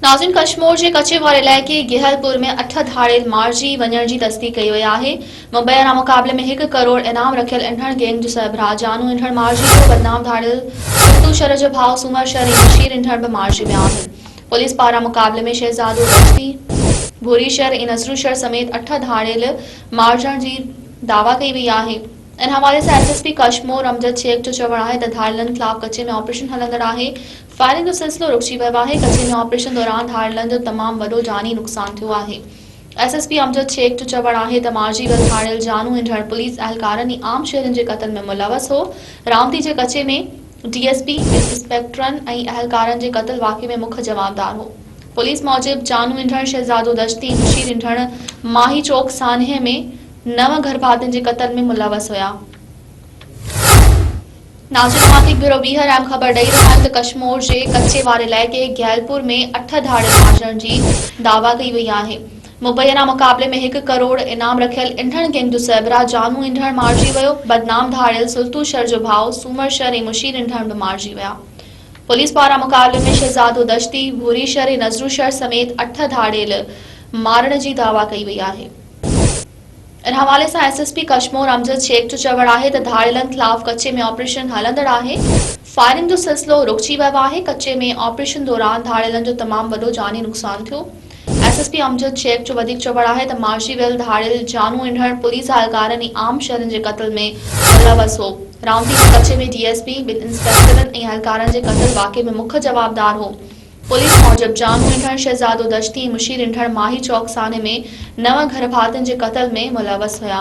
ناظرين ڪشمور جي ڪڇي واري علائقي گهيل پور ۾ اٺ ڌاڙيل مارجي وڃڻ جي تصديق ڪئي وئي آهي مبينا مقابلي ۾ هڪ ڪروڙ انعام رکيل انڙ گينگ جو سربراهه جانو انڙ مارجي ويو بدنام ڌاڙيل ڇتو شر جو ڀاء سومر شر ۽ بشير انڙ به مارجي ويا آهن پوليس پاران مقابلي ۾ شهزادو رشدي ڀوري شر ۽ نذرو شر سميت اٺ ڌاڙيل مارجڻ جي دعويٰ ڪئي وئي آهي ان حوالي سان S S P Kashmore Amjad Shaikh جو چوڻ آهي ته ڌاڙيلن خلاف ڪڇي ۾ آپريشن هلندڙ آهي فائرنگ جو سلسلو رڪجي ويو آهي، ڪچي ۾ آپريشن دوران ڌاڙيلن جو تمام وڏو جاني نقصان ٿيو آهي. S S P Amjad Shaikh جو چوڻ آهي ته مارجي ويل ڌاڙيل جانو هنڍڙ پوليس اهلڪارن ۽ عام شهرين جي قتل ۾ ملوث هو، راوندي جي ڪچي ۾ ڊي ايس پي، انسپيڪٽرن ۽ اهلڪارن جي قتل واقعي ۾ مک جوابدار هو. پوليس موجب جانو هنڍڙ، شهزادو دشتي ۽ مشير هنڍڙ ماهي چوڪ سانحي ۾ نو گهرڀاتين جي قتل ۾ ملوث هيا. ناصر نعماتي بيورو ويهه رحم خبر ڏئي رهيو آهي ته ڪشمور جي ڪچي واري علائقي گهيلپور ۾ اٺ ڌاڙيل مارجڻ جي دعويٰ ڪئي وئي آهي مبينا مقابلي ۾ هڪ ڪروڙ انعام رکيل انڍڻ گينگ جو سربراهه جانو انڍڻ مارجي ويو بدنام ڌاڙيل سلطو شر جو ڀاء سومر شر ۽ مشير انڍڻ به مارجي ويا پوليس پاران مقابلي ۾ شهزادو دشتي ڀوري شر ۽ نظرو شر سميت اٺ ڌاڙيل مارڻ جي دعويٰ ڪئي وئي آهي ان حوالي سان S S P Kashmore Amjad Shaikh جو چوڻ آهي ته ڌاڙيلن خلاف ڪچي ۾ آپريشن هلندڙ آهي، فائرنگ جو سلسلو رڪجي ويو آهي، ڪچي ۾ آپريشن دوران ڌاڙيلن جو تمام وڏو جاني نقصان ٿيو. S S P Amjad Shaikh جو وڌيڪ چوڻ آهي ته مارجي ويل ڌاڙيل جانو انڙ پوليس اهلڪارن ۽ عام شهرين جي قتل ۾ ملوث هو، رامتي ۾ ڪچي ۾ ڊي ايس پي، ٻن انسپيڪٽرن ۽ اهلڪارن جي قتل واقعي ۾ مک جوابدار هو. پوليس موجب جام ڍنڍڻ شهزادو دشتي مشي ڍنڍڻ ماهي چوڪ سانحي ۾ نو گهر ڀاتين جي قتل ۾ ملوث هيا.